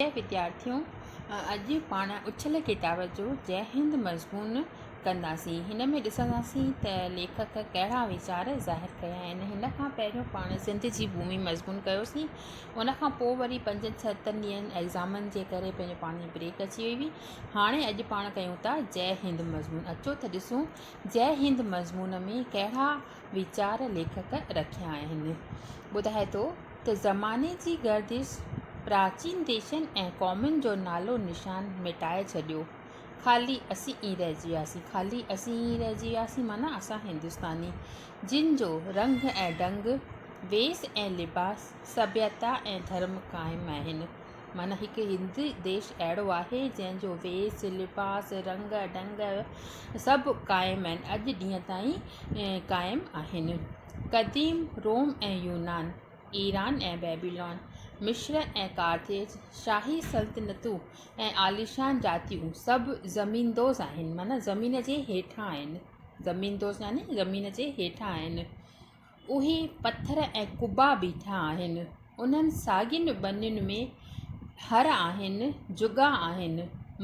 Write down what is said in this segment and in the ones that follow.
پريا وديارٿيو اڄ پاڻ اڇل ڪتاب جو جئه هند مضمون ڪنداسين هن ۾ ڏسنداسين ته ليکڪ ڪهڙا ويچار ظاهر ڪيا آهن هن کان پهريون پاڻ سنڌ جي ڀومي مضمون ڪيوسين ان کان پوء وري پنجن ستن ڏينهن ايگزامن جي ڪري پنهنجو پاڻ جي بريڪ اچي وئي هئي هاڻي اڄ پاڻ ڪيون ٿا جئه هند مضمون اچو ته ڏسون جئه هند مضمون ۾ ڪهڙا ويچار ليکڪ رکيا آهن. ٻڌائي ٿو ته زماني جي گردش پراچين ديشن ۽ قومن جو نالو نشان مٽائي ڇڏيو، خالي اسين ئي رهجي وياسين، خالي اسين ئي رهجي وياسين معنيٰ اسان هندستاني، جن جو رنگ ۽ ڍنگ، ويس ۽ لباس، سڀيتا ۽ ڌرم قائم آهن. معنيٰ هڪ هندي ديش اهڙو آهي جنهن جو ويس لباس رنگ ڍنگ سڀ قائم آهن اڄ ڏينهن تائين قائم آهن قديم روم ۽ يونان ايران ۽ بيبيلون مصر ۽ ڪارٿيج شاهي سلطنتون ۽ عاليشان جاتيون سڀ زميندوز آهن معنيٰ زمين جي هيٺان آهن زميندوز يعني زمين جي هيٺان آهن اهي پٿر ۽ قبا بيٺا آهن. انهن ساڳين ٻنين ۾ هر آهن، جڳا آهن،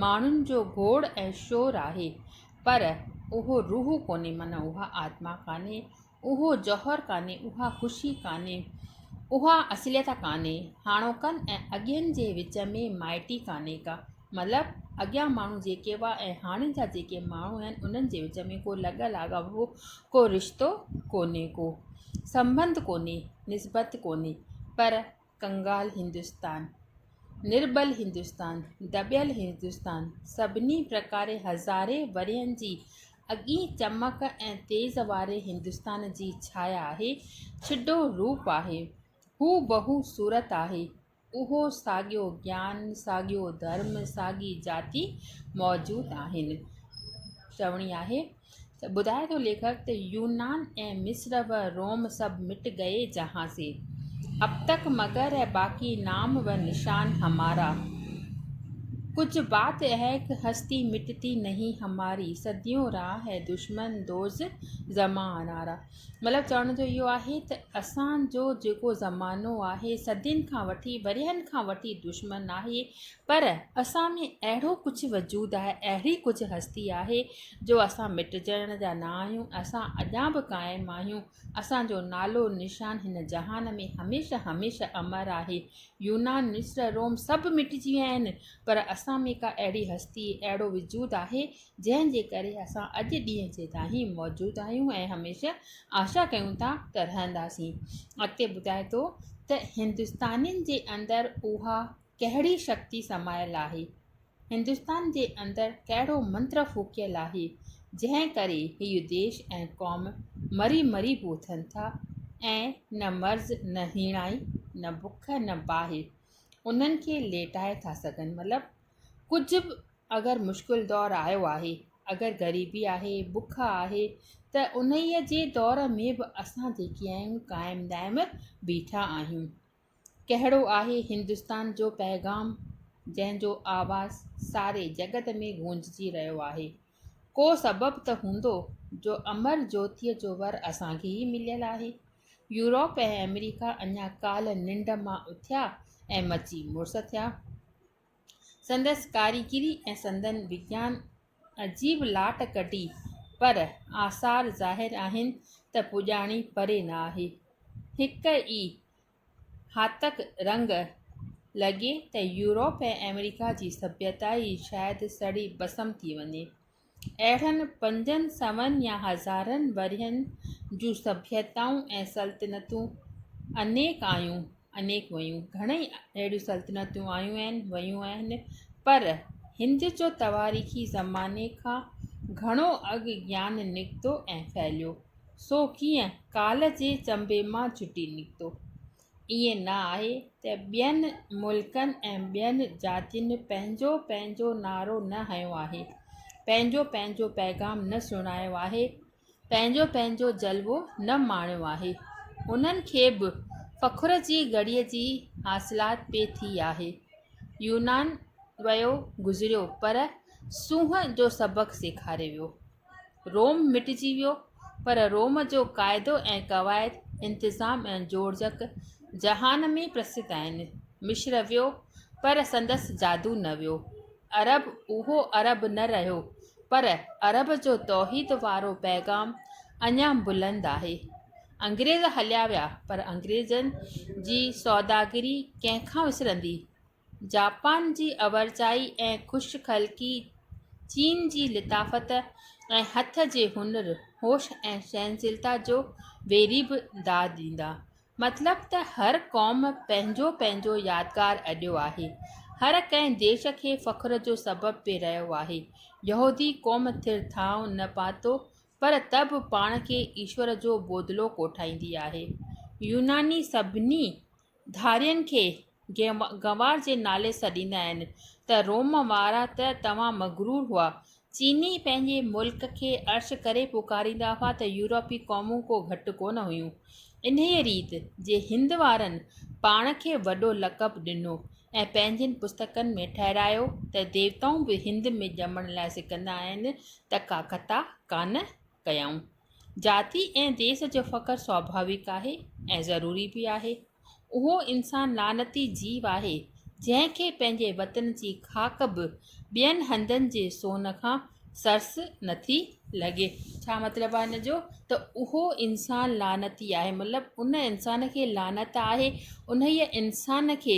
ماڻهن جو گوڙ ۽ شور آهي، پر اهو روح ڪونهي معنيٰ اها آتما ڪانهي، اهو جوهر ڪانهي، اها خوشي ڪانهي، اها اصليت ڪانهي، هاڻوڪن ۽ اڳين جي وچ ۾ مائٽي ڪانهي ڪا. مطلب اڳيان ماڻهو جيڪي هئا ۽ هاڻي جا جيڪي ماڻهو آهن انهن جي وچ ۾ ڪو لڳ لاڳاپو ڪو رشتو ڪونهي ڪو سنبنڌ ڪونهي نسبت ڪونهي پر ڪنگال هندستان نرٻل هندستان دٻيل هندستان سڀني پرڪاري هزارين ورهين جي اڳين چمڪ ۽ تيز واري هندستان جي ڇايا آهي ڇڊو روپ آهي هو بهو صورت آهي اهو ساڳيو گيان، ساڳيو ڌرم، ساڳي جاتي موجود آهن. چوڻي آهي ته ٻڌائي ٿو ليکڪ ته يونان ۽ مصر و روم سب مٽ گئي جهان سي، اب تڪ مگر هي باقي نام و نشان همارا، ڪجهه بات اهي ڪه هستي مٽتي نهين هماري، صديون رها هي دشمن دوز زمانارا. مطلب چوڻ جو اهو آهي ته اسان جو جيڪو زمانو آهي صدين کان وٺي ورهين کان وٺي دشمن آهي پر اسان ۾ اهڙو ڪجهه وجود آهي اهڙي ڪجهه هستي آهي جو اسان مٽجڻ جا نه آهيون اسان اڄان به قائم آهيون اسانجو نالو نشان هن جهان ۾ هميشه هميشه امر آهي يونان مصر روم سڀ مٽجي ويا آهن پر اسان ۾ ڪا اهڙي هستي اهڙو وجود آهي جنهن جي ڪري اسان اڄ ڏينهن جي تائين موجود آهيون ۽ هميشه آشا ڪيون ٿا ته رهنداسين. اڳتي ٻڌائي ٿو ته هندستانين جي اندر اها ڪهڙي شڪتي سمايل آهي، هندستان جي اندر ڪهڙو منتر ڦوڪيل آهي، جنهن ڪري هيء ديش ۽ قوم مري مري به اٿن ٿا ۽ نه مرض نه هيڻائي نه بک نه باهه انهن کي ليٽائي ٿا سگهن مطلب ڪجهه به اگر مشڪل دور آيو آهي، اگر غريبي آهي، بک آهي ته انهيء جي دور ۾ به اسان جيڪي آهيون قائم دائم بيٺا آهيون. ڪهڙو آهي هندستان جو پيغام جنهن جو آواز ساري جڳت ۾ گونججي رهيو آهي. ڪو سبب ته هوندو جو امر جوتيء جو ور اسان کي ئي مليل آهي. يوروپ ۽ آمريڪا اڃا ڪالهه ننڊ مان اٿيا ۽ مچي مڙس ٿيا. سندس ڪاريگري ۽ سندن وگيان عجيب لاٽ ڪڍي، پر آثار ظاهر آهن ته پڄاڻي پري نه آهي. هڪ ئي هاتڪ رنگ لڳي ته يورپ ۽ آمريڪا جي سڀيتائي شايد سڙي ڀسم ٿي وڃي. اهڙن پنجن سون يا هزارن ورهين جون سڀيتائون ۽ سلطنتون انيڪ آيون انيڪ ويون گهڻئي اهڙيون سلطنتون آيون آهن ويون آهن پر هند جو تواريخي زماني کان گهڻو اڳ گيان نڪتو ۽ ڦهليو سو ڪيئن ڪالهه جي چنبي مان چٽي نڪتو ائين نه آهي ته ٻين ملڪن ۽ ٻين جاتين پنهنجو پنهنجو نعرو نه هنيو آهي، پنهنجو پنهنجو پيغام نه سڻايو آهي، پنهنجو پنهنجو جلوو نه ماڻيو آهي. انهن کي به فخر جي گهڙيء جي حاصلات پئي ٿي آهي. يونان ويو گذريو پر سونهن جو سبق سيکاري ويو. روم مٽجي ويو، پر روم جو قاعدو ۽ قواعد، انتظام ۽ جوڙجڪ جهان ۾ پرسڌ آهن. مصر ويو، پر سندس جادو نه ويو. عرب اهو عرب نه رهيو، پر عرب جو توحيد وارو پيغام اڃا بلند آهي. انگريز هليا ويا، پر انگريزن جي سوداگري ڪنهن کان وسرندي؟ جاپان جي اورچائي ۽ خوش خلقي، چين جي لطافت ۽ هٿ جي هنر، هوش ۽ سهنشيلتا جو ويري به داد ڏيندا. مطلب ته هر قوم پنهنجو پنهنجو يادگار اڏيو آهي. هر ڪنهن ديش کي فخر جو سبب به رهيو آهي. يهودي قوم ٿر ٿانء نه پاتو پر ته به پاڻ کي ايشور جو بودلو ڪوٺائيندي آهي. يوناني سڀني ڌارين کي گنوار جي نالي سڏيندا آهن ته روم وارا ته توهان مغرور هئا. چيني پنهنجي ملڪ کي عرش ڪري پڪاريندا هئا ته يورپي قومون ڪو گهٽ ڪونه هيون. انهيء ريت جي هند وارن پاڻ کي وڏو لقب ڏنو ۽ پنهنجين پستڪن ۾ ٺهرايو ته ديوتائون به هند ۾ ڄمڻ لاء سڪندا آهن ته ڪاڪتا ڪانه ڪيائون. ذاتي ۽ ديس جو فخر سواڀاويڪ آهي ۽ ضروري به آهي. اهو انسان لعنتي جيو آهي، جنهن کي پنهنجي وطن جي خاڪ به ٻين هندن جي سون کان سرس نٿي لڳي. ڇا مطلب آهي ان جو ته اهو انسان لعنتي آهي مطلب ان انسان کي لعنت آهي انهيء انسان کي